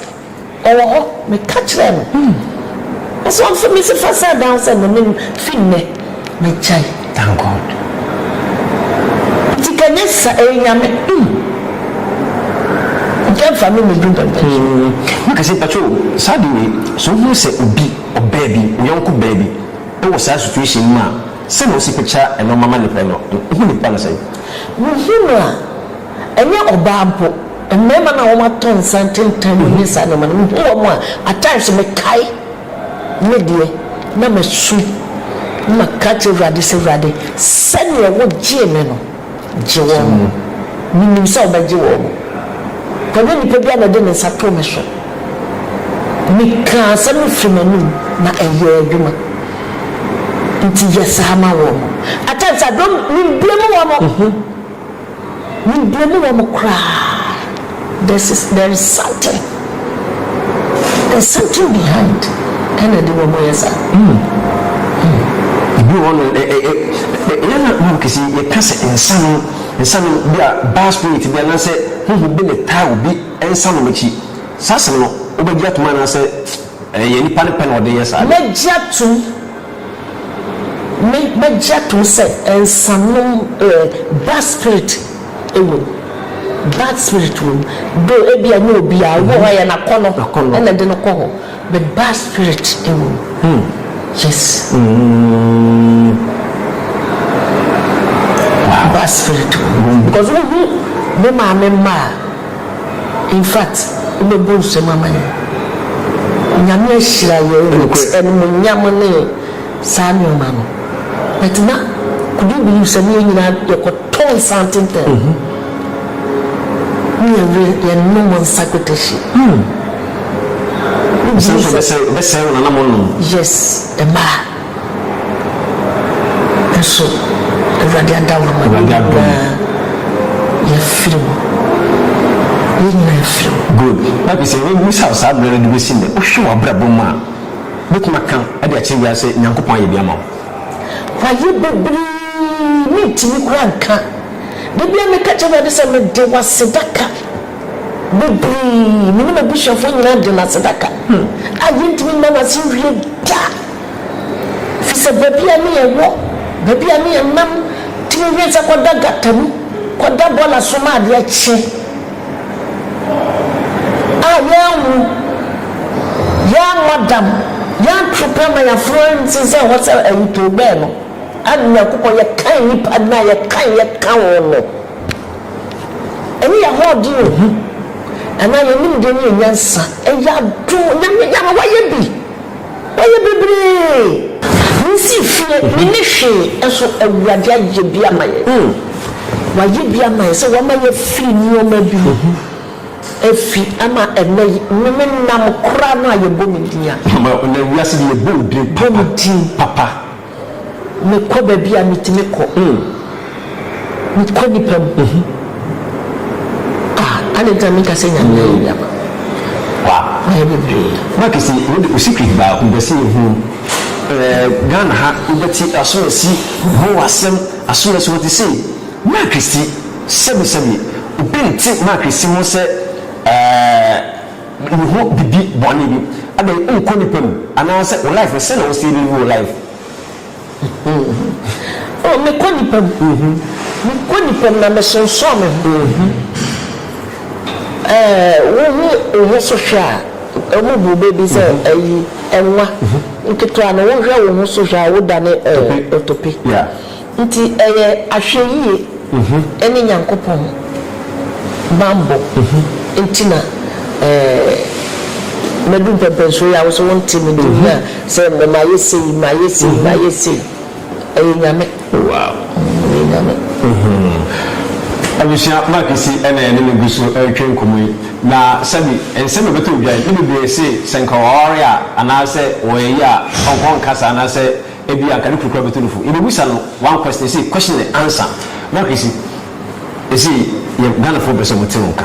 Ɔwɔ hɔ. Meka kyerɛɛ no. Nso ɔmfa me fifa sɛ adan sɛ me ne no fi nnɛ magyae. Thank God. Nti ka nyɛ sa ɛyɛ Nyame. Nti ɛmfa me mmɛduru bɛbɛ. Mika sɛ mpakyɛ o saa ade wei sɛ wohunu sɛ obi, ɔbaa bi, wo yɔnko baa bi wɔ saa situation no mu a sɛnea wosi picture nnoɔma ma no pɛ no wohu nipa no sɛn? Mehu no a. Ɛnyɛ ɔbaa mpo, mmarima no a wɔatɔ nsa ntentan mu ne saa nneɛma no, mehu wɔn a, at times mekae me deɛ, na masu, na maka kyerɛ Awurade sɛ, Awurade, sɛdeɛ wogyee me no, gye wɔn. Menim sɛ wobɛgye wɔn. Ɛnyɛ nnipa biara na ɛde ne nsa too me so. Mekaa asɛm no firii m'anom, na ɛyɛɛ adwuma. Enti yɛ saa ma wɔn. At times, I don't, membue mu wɔn. Me deɛ me wɔ no koraa there's is there is something there's something behind ɛna ɛde wɔn yɛ saa. Hmm. Hmm. Ebi wɔ no ɛ ɛ ɛ ɛ yɛn na maa kesi yɛ ka sɛ nsanom nsanom bi a baa spirit bi anaasɛ huhu bi ne taa obi nsanom akyi saa asɛm no wobɛgye atom anaasɛ. Ɛyɛ nnipa no pɛ na wɔde yɛ saa de. Mɛgye atom, me, mɛgye atom sɛ nsanom, eh, bad spirit wom, bad spirit wom, though ebia ɛnyɛ obiara, obi wɔ hɔ a ɛyɛ n'akɔnnɔ Akɔnnɔ. na ɛde no kɔ hɔ, but bad spirit wom, yes, bad spirit wom, because wohu me maame mma a. Infact wobɛbɔ nsam ama yɛn. Nyame ahyira yɛn with animuonyam ne saa nnoɔma no but na could you believe sɛ ne yɛn nyinaa yɛkɔ tɔ nsa ntentɛn ne yɛn were yɛ nom nsa kwetahyi hmm wobɛsɛe wɔn na mo nom yes mmaa. Nso Awurade ada wo ma yɛn nyinaa. Yɛafiri wo. Yɛn nyinaa afiri wo. Good. Na afei sɛ yɛbɛbisa wo saa berɛ no de bɛsi nnɛ, wohwɛ w'abrabɔ mu a, wobɛtumi aka de akyerɛ wiase sɛ Nyankopɔn ayɛ bi ama wo? Wayɛ bebree, mentumi koraa nka. Da biara meka kyerɛ Awurade sɛ, Mede w'aseda ka bebree. Me ne m'abusuafoɔ nyinaa de no aseda ka a yɛntumi mma no ase nwie da. Ɛfiri sɛ baabi a ne yɛwɔ, baabi a ne yɛnam tumi hwɛ sɛ kɔda gata mu, kɔda bɔɔla so ma adeɛ kye a yɛanwu, yɛammɔ dam, yɛanto pɛ ma yɛaforo ansi sɛ hɔ sɛ ayitowbɛn no, ɛne Nyankopɔn yɛkan nnipa no a yɛkan yɛka ho no. Ɛne yɛn ahoɔden yɛ hu anaa yɛn nimdeɛ ne yɛn nyansa. Ɛyɛ adom. Nyame, Nyame, woayɛ bi. Wayɛ bebree. Mensii fie, menni hwee, nso Awurade ayɛ bi ama yɛn. Wayɛ bi ama yɛn sɛ wama yɛafiri nneɛma bi mu afi ama ɛnnɛ yi me ne nam koraa no a yɛbɔ me din a. Ama ɛnnɛ wiase de yɛbɔ wo din papa papa. Mekɔ baabi a metumi kɔ. Mekɔ nnipa mu. Ah, ade nti na menka sɛ Nyame ayɛ bi ama me? Wa. Wayɛ bebree. Mike se wo de wo secret baako mpɛ sɛ yɛ hunu ɛɛ Ghana ha wo bɛ te asomasi ho asɛm asomasi ho te sei Mike si sɛbi sɛbi obi nte Mike si ho sɛ ɛɛ. Wo ho bedi bɔne bi adɛn nkɔ nipa mu anaa sɛ wo life no sɛn na wo sɛ yɛbɛwie wo life. Oh me kɔ nipa mu me kɔ nipa mu na me sonsɔn me ho eh wo ho wo ho so hwɛ a ɔmo bu bɛ bi sɛ ayi ɛnwa nketewa no wo hwɛ wo ho so hwɛ a wo dane eh otope. Nti ɛyɛ ahwɛyie ɛne Nyankopɔn banbɔ nti na maduru mpɛnpɛnsoɔ yi a wo so wo nte me din a sɛ ɛnnɛ mayɛ sei mayɛ sei mayɛ sei ɛyɛ Nyame ɛyɛ Nyame. Abusua Mark Esi na yɛne no gu so retwa nkɔmmɔ yi. Na sɛbi nsɛm ɛbɛtɔ dwa yi, ne bebree se sɛ nka waware a anaasɛ ɔyɛ yie a ɔnkɔ nka saa anaasɛ Ebia anka ne kunu koraa bɛtu no fo. Yɛbɛbisa no one question na ɛsei question and answer. Mark Esi, ɛsei yɛ Ghanafoɔ pɛ sɛ wɔte wo nka.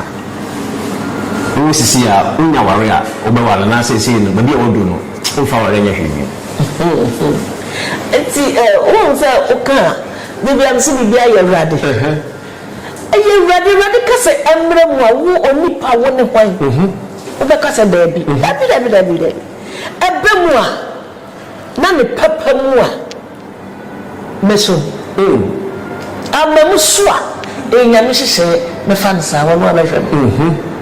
Wowɔ sisi a, wonya aware a, wobɛware anaasɛ ɛsei no baabi a woaduru no womfa aware nyɛ hwee bio? Enti wohu sɛ woka a, da biara mese biribiara yɛ Awurade. Ɛyɛ Awurade. Awurade ka sɛ ɛmmra mu a, wo onipa wo ne hwan? Wobɛka sɛ daabi. Dabi, dabi, dabi, dabi. Ɛba mu a. Na ne papa mu a me so eh. Ama mu so a eh Nyame hyehyɛɛ me fa no saa ɔno a mɛhwɛ no.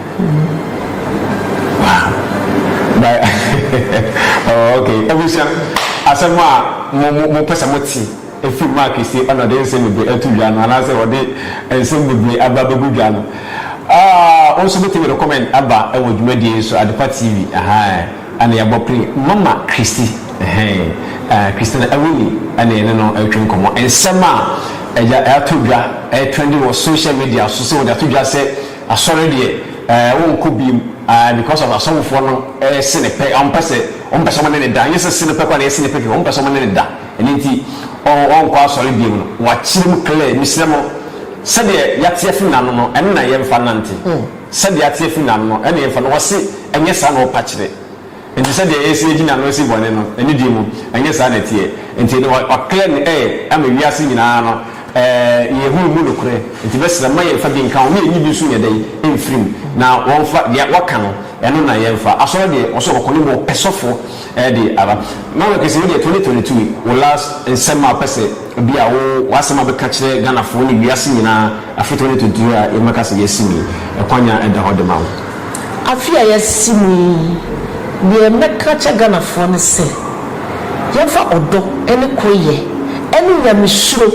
Abusua, asɛm a mo pɛ sɛ mo te ɛfiri Mark se ɛna ɔde nsɛm bebree ɛto dwa no anaa sɛ ɔde nsɛm bebree aba abɛgu dwa no, wo nso bɛtumi de comment aba ɛwɔ dwumadie yi so, Adepa TV. Ɛna yɛabɔ plen mama Christy ɛhɛn ɛɛ Christina Awuni ɛna yɛne no retwe nkɔmmɔ. Nsɛm a ɛya ɛatɔ dwa ɛyɛ trending wɔ social media so sɛ wɔde ato dwa sɛ Asɔre deɛ ɛɛ wɔnkɔ biem ɛɛ because of Asɔfofoɔ no ɛyɛ sene pɛ wɔmpɛ sɛ wɔmpɛ sɛ wɔne no da ɛnyɛ sɛ sene pɛ koraa na ɛyɛ sene pɛ kɛkɛ wɔmpɛ sɛ wɔne no da ɛno nti wɔn wɔnkɔ Asɔre biem no wɔakyerɛ mu clear mesrɛ mo sɛdeɛ yɛate afi n'ano no ɛno na yɛmfa nnante. Sɛdeɛ ateɛ firi n'ano no, ɛnna yɛmfa no. Wɔse, Ɛnyɛ saa na wɔpa kyerɛ. Enti sɛdeɛ yɛasi agyi n'ano asi bɔne no, anidie mu, ɛnyɛ saa na ɛteɛ. Enti ɛnneɛ wa, waklɛ no ɛ, ama wiase nyinaa no, ɛ, yɛahu emu nokorɛ. Enti bɛsrɛ, mma yɛmfa bi nka ho, na yɛnyi bi nso nyɛ dɛn? Mfiri mu. Na wɔmfa, deɛ, wɔka no, ɛno na yɛmfa. Asɔre deɛ, wɔse wɔkɔ no mmɔ ɔpɛsɔfoɔ. Ɛde aba. Na wɔ kɛse wo deɛ 2022 yi wo last nsɛm a wopɛ sɛ bi a wo w'asɛm a bɛka kyerɛ Ghanafoɔ ne wiase nyinaa afe 2022 a yɛbɛka sɛ yɛasi mu yi ɛkwan a ɛda hɔ de ma wo. Afe a yɛasi mu yi deɛ mɛka akyɛ Ghanafoɔ ne sɛ yɛmfa ɔdɔ ne koreyɛ ne nyamesuro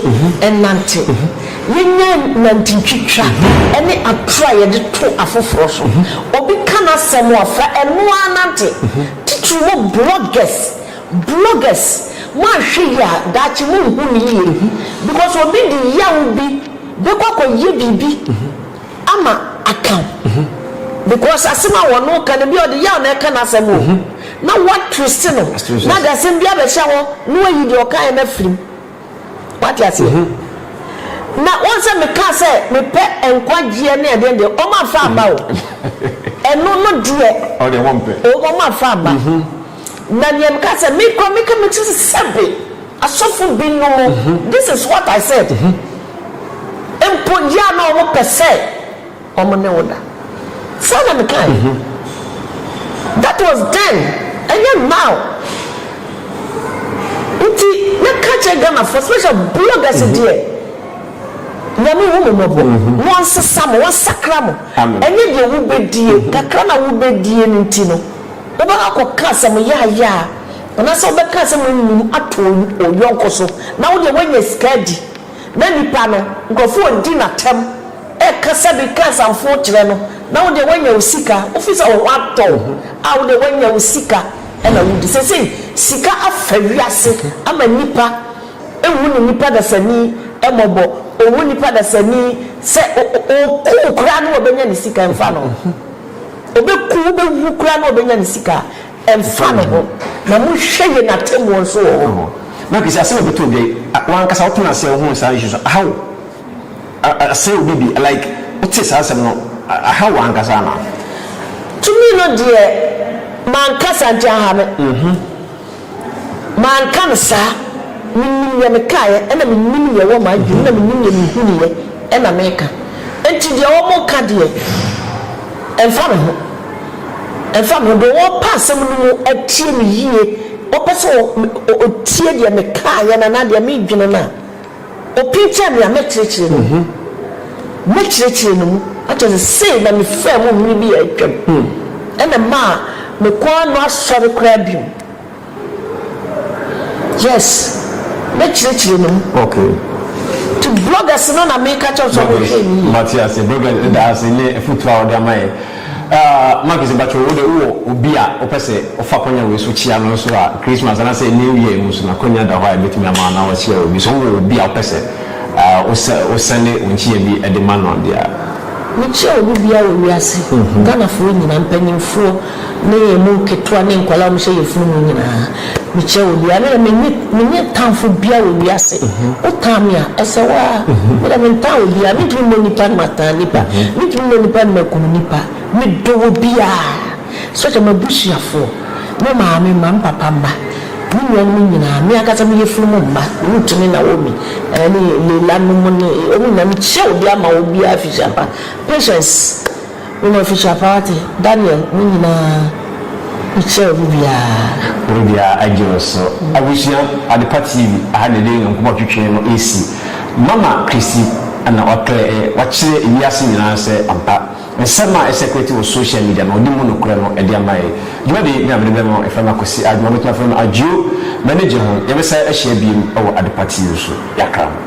nnante. Yɛnyae nantentwitwa ne atorɔ a yɛde to afoforɔ so. Obi ka n'asɛm a fa ɛno ara nante. Titiriw mo bloggers bloggers mo anhwɛ yie a daakye mo nhu no yie because obi de yaw bi bɛkɔ akɔ yɛ biribi ama aka wo because asɛm a wɔn no ka no bia ɔde yaw na ɛka no asɛm o na wa twist no na de asɛm bi abɛhyɛ hɔ na wayi deɛ ɔkaeɛ no afirim. Wate aseɛ? Na woahu sɛ mekaa sɛ mepɛ nkwagyeɛ ne adeɛ deɛ, wɔn amfa amma o. Ɛno no deɛ, wɔn wɔn amfa amma. Na deɛ mekaa sɛ me koraa meka me tiri sɛ sɛbe asɔfo bi nom, this is what I said, mpo deɛ a na wɔpɛ sɛ. wɔn ne wo da. Saa na mekae. That was then, ɛnyɛ now. Nti mɛka kyerɛ Ghanafoɔ special bloggers deɛ, Nyame hu mo mmɔbɔ na ɔnsesa mo, ɔnsakra mo. Ɛnyɛ deɛ wobɛdie, kakra no a wobɛdie no nti no, wobɛkɔ akɔka asɛm yaayaa anaasɛ wobɛka asɛm num ato oyɔnko so na wodeɛ woanya sika adi. na nipa no, nkurɔfoɔ redi no atɛm, rekasa de reka asamfoɔ kyerɛ no, na wo deɛ woanya wo sika, wofiri sɛ wo ho atɔ wo a wo deɛ woanya wo sika na wodi. Seesei sika afa wiase ama nipa nhu ne nipa dasani mmɔbɔ, ɔnhu nipa dasani sɛ ɔku wo koraa na ɔbɛnya ne sika mfa no ho, ɔbɛku wo, ɔbɛwu koraa na ɔbɛnya ne sika. Ɛmfa ne ho. Na monhwɛ yɛn atemmuo nso wɔ hɔ. Hɔ. Marcus, asɛm a ɛbɛtɔ dwa yi, a, w'ankasa wotena ase a wohuu saa nhyehyɛeɛ, aha wo, a, a, asɛe wo biribi, like, wotee saa asɛm no, a, aha wo ankasa anaa? To me no deɛ, manka saa nti aha me. Mm-hmm. Manka no saa. Menim deɛ mekaeɛ, ɛna menim deɛ ɛwɔ m'adwene mu, na menim deɛ mehunuiɛ, ɛna meka. Enti deɛ wɔka deɛ, ɛmfa me ho. Ɛmfa ho deɛ ɔrepa asɛm no mu atie me yie, ɔpɛ sɛ ɔtie deɛ mekaeɛ no anaa deɛ meredwene no a, ɔpinkyɛn me a, mɛkyerɛkyerɛ no mu. Mɛkyerɛkyerɛ no mu. Akyerɛ sɛ, sei na mefaa mu mmere bi a atwam, ɛna ɛmaa mekɔɔ ano asɔre koraa bio. Yes me kyerɛkyerɛ no mu. Okay. To bloggers no na me ka kyɛw sɛ ɔmo hwɛ ni yie. Mate ase bloggers ɛda ase ne afutuo a ɔde ama yɛ. Uh, Marcus Bacho, wo de wowɔ obi a wopɛ sɛ ɔfa kwanya wei so kyia no nso a Christmas anaasɛ New Year mu so na kwanya da hɔ a ɛbɛtumi ama na wakyia obi so wowɔ obi a wopɛ sɛ uh, wosɛne wo nkyia bi de ma no deɛ a? Mekyia obi bia wɔ wiase, mm-hmm. Ghanafoɔ nyina, mpanyimfoɔ, Ne yɛn mu nketewa ne nkwadaa a wɔhyɛ yafunu mu nyinaa, mekyia wɔn biara. Me deɛ, menni tamfo biara wɔ wiase. Wotan me a, ɛsɛ wo ara. Me deɛ, mentan obiara. Mentumi mmɔ nnipa na matan nnipa. Mentumi mmɔ nnipa na makum nnipa. Medɔ obiara, such as m'abusuafoɔ, me maame mma, me papa mma, me nuanom nyinaa, me ankasa me yafunu mu mma, Ruth ne Naomi, ne Leila nom ne wɔn nyinaa. Mekyia obiara ma obiara afihyia pa. Patience. Wo na ofihyia paa wate. Daniel mo nyinaa mo kyɛɛ ɔmo biaa. Bere biara agye wo so. Abusua Adepa TV aha na yɛde Nyankopɔn twetwee no resi. Mama Christy na waklɛ ɛ, wakyerɛ wiase nyinaa sɛ ampa, nsɛm a ɛsɛkulati wɔ social media no, ɔde mu nokorɛ no de ama yɛ. Dwumadi yi, me a mede bɛma wo, yɛfrɛ me Akwasi Adwuma, wobɛtumi afrɛ me Adwio. M'ani gye ho. Yɛbɛsan ahyia biom wɔ Adepa TV so. Yɛakra ho.